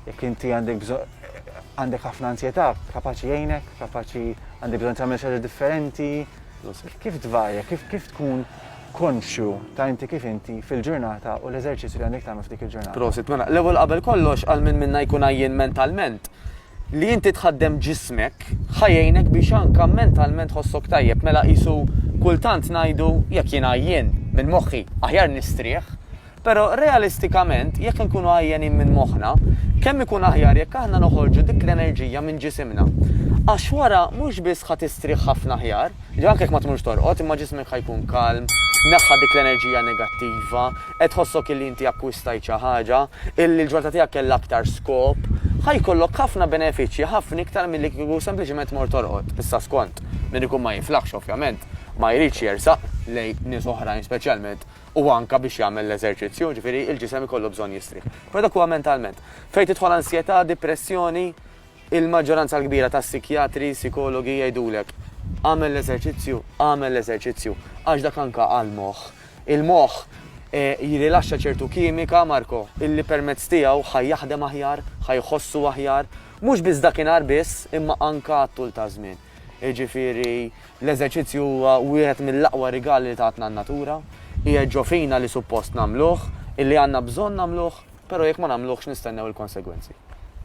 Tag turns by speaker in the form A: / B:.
A: Jekk inti għandek bżonn għandek ħafna ansjetà, kapaċi jgħinek, kapaċi għandek bżonn tagħmel xi differenti. Kif tvarja, kif kif tkun konxju ta' inti kif inti fil-ġurnata u l-eżerċizzju li għandek tagħmel f'dik il-ġurnata. Prosit, mela, l-ewwel qabel
B: kollox għal minn minna jkun għajjien mentalment li inti tħaddem ġismek ħajjejnek biex anka mentalment ħossok tajjeb mela qisu kultant ngħidu jekk jien għajjien minn moħħi aħjar nistrieħ Però realistikament, jekk inkunu għajjenin minn moħħna, kemm ikun aħjar jekk aħna noħorġu dik l-enerġija minn ġisimna. Għax wara mhux biss ħa tistrieħ ħafna aħjar, ġifieri anke jekk ma tmurx torqod, imma ġismek ħa jkun kalm, tneħħa dik l-enerġija negattiva, qed tħossok illi inti akkwistajt xi ħaġa, illi l-ġurnata tiegħek kellha aktar skop. Ħa jkollok ħafna benefiċċji, ħafna iktar milli kieku sempliċiment tmur torqod. Issa skont, min ikun ma jiflaħx ovvjament, ma jridx jersaq lejn nies oħrajn speċjalment u anke biex jagħmel l-eżerċizzju, jiġifieri l-ġisem ikollu bżonn jistrieħ. Però dak huwa mentalment. Fejn tidħol ansjetà, dipressjoni, il-maġġoranza l-kbira tas-sikjatri, sikologi jgħidulek agħmel l-eżerċizzju, agħmel l-eżerċizzju, għax dak anke għall-moħħ. Il-moħħ jirilaxxa ċertu kimika, Marco, illi permezz tiegħu ħa jaħdem aħjar, ħa jħossu aħjar, mhux biss dakinhar biss imma anke għat-tul taż-żmien. Jiġifieri, l-eżerċizzju huwa wieħed mill-aqwa rigali li tatna n-natura. Qiegħed ġo fina li suppost nagħmluh, illi għandna bżonn nagħmluh, però jekk ma nagħmluhx nistennew il-konsegwenzi.